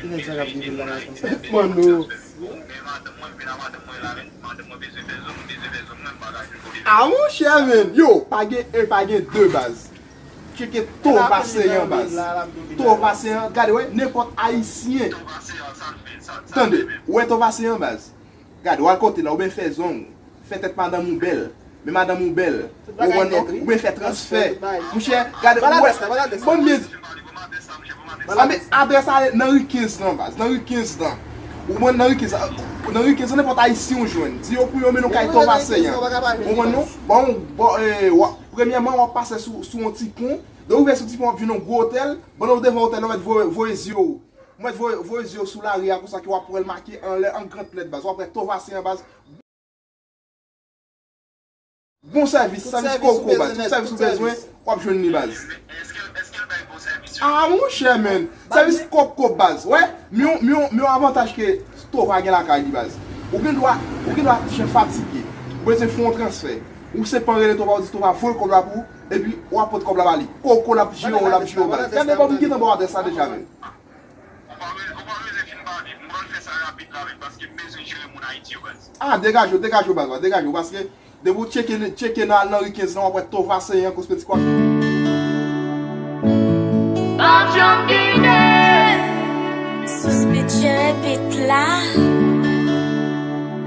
Kinèg sa kap di poul lage konsa. Manno. Ah monchè men. Yo pa gen 1 pa gen 2 baz. Tcheke tour pase an baz. Tour pase an gade wè nenpòt ayisyen. Tande. Wè tour pase an baz. Gad wal kote la ou byn fè zong ou fè tèt madanm ou bèl men madanm ou bèl ou onèt ou byn fè transfè mouchè gad ou wè bon byn di anmè adrès la ale nan ri 15 lan baz nan ri 15 lan ou konprann nan ri 15 lan nan ri 15 lan nenpòt ayisyen ou jwenn di yo pou yo mennen ou kay tòv aseyan ou konprann non bon bon wa premyèman wap pase sou sou yon ti pon lè ou rive sou ti pon wap jwenn yon gwo otèl pandan ou devan otèl la ou mèt voye voye zye ou Mèt voye voye zyew sou lari a konsa ke wap wèl make anlè an grand lèt baz wap wè tovase an baz bon sèvis sèvis koko baz tout sèvis ou bezwen wap jwenn li baz. Aa monchè menn sèvis koko baz wè men yon avantaj ke tova gen lakay li baz ou gen dwa ou gen dwa ti jan fatige ou bezwen fè yon transfè ou senpman rele tova ou di tova voye kòb la pou ou. Epi wap pot kob la ba li. Koko lap jere w lap jere w baz. Gade bon m gentan ba w adrès la deja menm. Ou pa ou pa beze vin ba li. M pral fè sa rapid la menm paske m bezwen jere moun Ayiti yo baz. Ah degaje w degaje w baz la degaje w paske depi w tcheke tcheke nan nan ri 15 lan wap wè Tova Seyan Kosmetik wap. Suspicion beat la.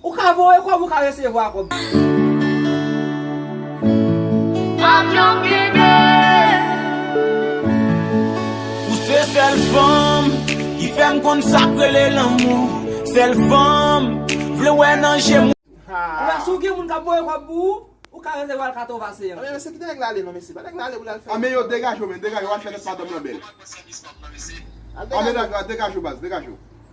Ou ka voye kob ou ka resevwa kob. Avion Guede. Ou se sèl fanm ki fèm konn sak rele lanmou sèl fanm vle wè nan jem ou. Ebyen si w gen moun kap voye kob pou ou, ou ka resevwa l 80 a 50. Anben mesye kite nèg la ale non mesye, ba nèg la ale pou l al fè. Anben yo degaje w men degaje w al fè lòt madanm lan bèl. Anben degaje w baz degaje w.